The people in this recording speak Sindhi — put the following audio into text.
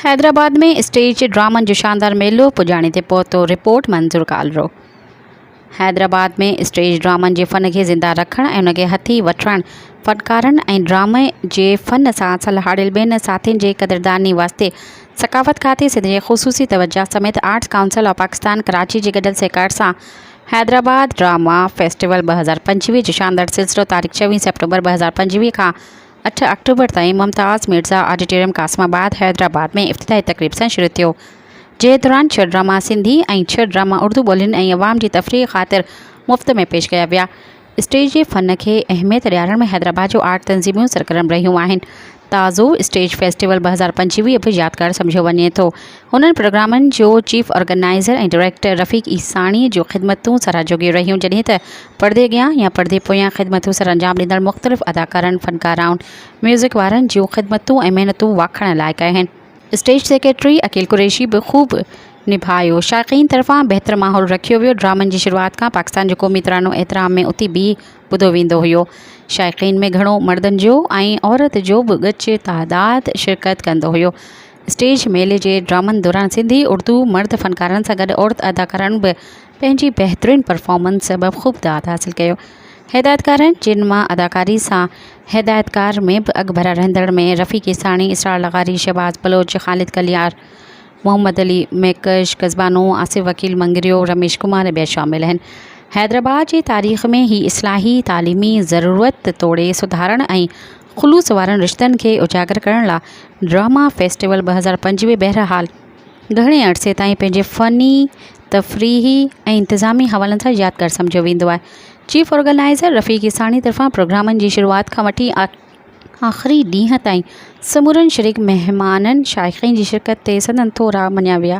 حيدرآباد ۾ اسٽيج ڊرامن جو شاندار ميلو پڄاڻي تي پهتو، رپورٽ منظور ڪالرو. حيدرآباد ۾ اسٽيج ڊرامن جي فن کي زنده رکڻ ۽ ان کي هٿي وٺڻ فنڪارن ۽ ڊرامي جي فن سان سلهاڙيل ٻين ساٿين جي قدرداني واسطي ثقافت کاتي سنڌ جي خصوصي توجهه سميت arts council of Pakistan Karachi جي گڏيل سهڪار سان حيدرآباد ڊراما فيسٽيول ٻه هزار پنجويهه جو شاندار سلسلو تاريخ ڇويهه سيپٽمبر ٻه هزار پنجويهه کان اٺ آڪٽوبر تائين ممتاز مرزا آڊيٽوريم قاسم آباد حيدرآباد ۾ افتتاحي تقريب سان شروع ٿيو جنهن دوران ڇهه ڊراما سنڌي ۽ ڇهه ڊراما اردو ٻولين ۽ عوام جي تفريح خاطر مفت ۾ پيش ڪيا ويا اسٽيج جي فن کي اهميت ڏيارڻ ۾ حيدرآباد جون آرٽ تنظيمون سرگرم رهيون آهن. تازو اسٽيج فيسٽيول ٻه هزار پنجويهه به يادگار سمجهيو وڃي ٿو. انهن پروگرامن جو chief organiser ۽ director Rafiq Isani جون خدمتون ساراهه جوڳيون رهيون جڏهن ته پڙدي اڳيان يا پڙدي پويان خدمتون سرانجام ڏيندڙ مختلف اداڪارن، فنڪارائن، ميوزڪ وارن جون خدمتون ۽ محنتون واکاڻڻ لائق آهن. اسٽيج سيڪريٽري عقيل قريشي به خوب نڀايو شائقين طرفان بهتر ماحول رکيو ويو ڊرامن جي شروعات کان پاڪستان جو قومي ترانو احترام ۾ اٿي بيهي ٻڌو ويندو هيو شائقين ۾ گهڻو مردن جو ۽ عورت جو به ڳچ تعداد شرڪت ڪندو هيو اسٽيج ميلي جي ڊرامن دوران سنڌي اردو مرد فنڪارن سان گڏ عورت اداڪارائڻ به پنهنجي بهترين پرفارمنس سبب خوب داد حاصل ڪيو. هدايتڪارن جن مان اداڪاري سان هدايتڪار ۾ به اڳڀرا رهندڙ ۾ رفيع ڪيساڻي، اسرار لغاري، شهباز بلوچ، خالد ڪليار، محمد علي ميڪش، قصبانو، آصف وڪيل مڱريو، رميش ڪمار ۽ ٻيا شامل آهن. حيدرآباد جي تاريخ ۾ هي اصلاحي، تعليمي، ضرورت توڙي سڌارڻ ۽ خلوص وارن رشتن کي اجاگر ڪرڻ لا ڊراما فيسٽيول ٻه هزار پنج به بهرحال، گهڻي عرصي تائين پنهنجي فني، تفريحي ۽ انتظامي حوالن سان يادگار سمجهيو ويندو آهي. چيف آرگنائيزر رفيق عيساڻي طرفان پروگرامن جي شروعات کان وٺي آخري ڏينهن تائين سمورن شريڪ مهمانن شائقين جي شرڪت تي سندن ٿورا مڃيا ويا.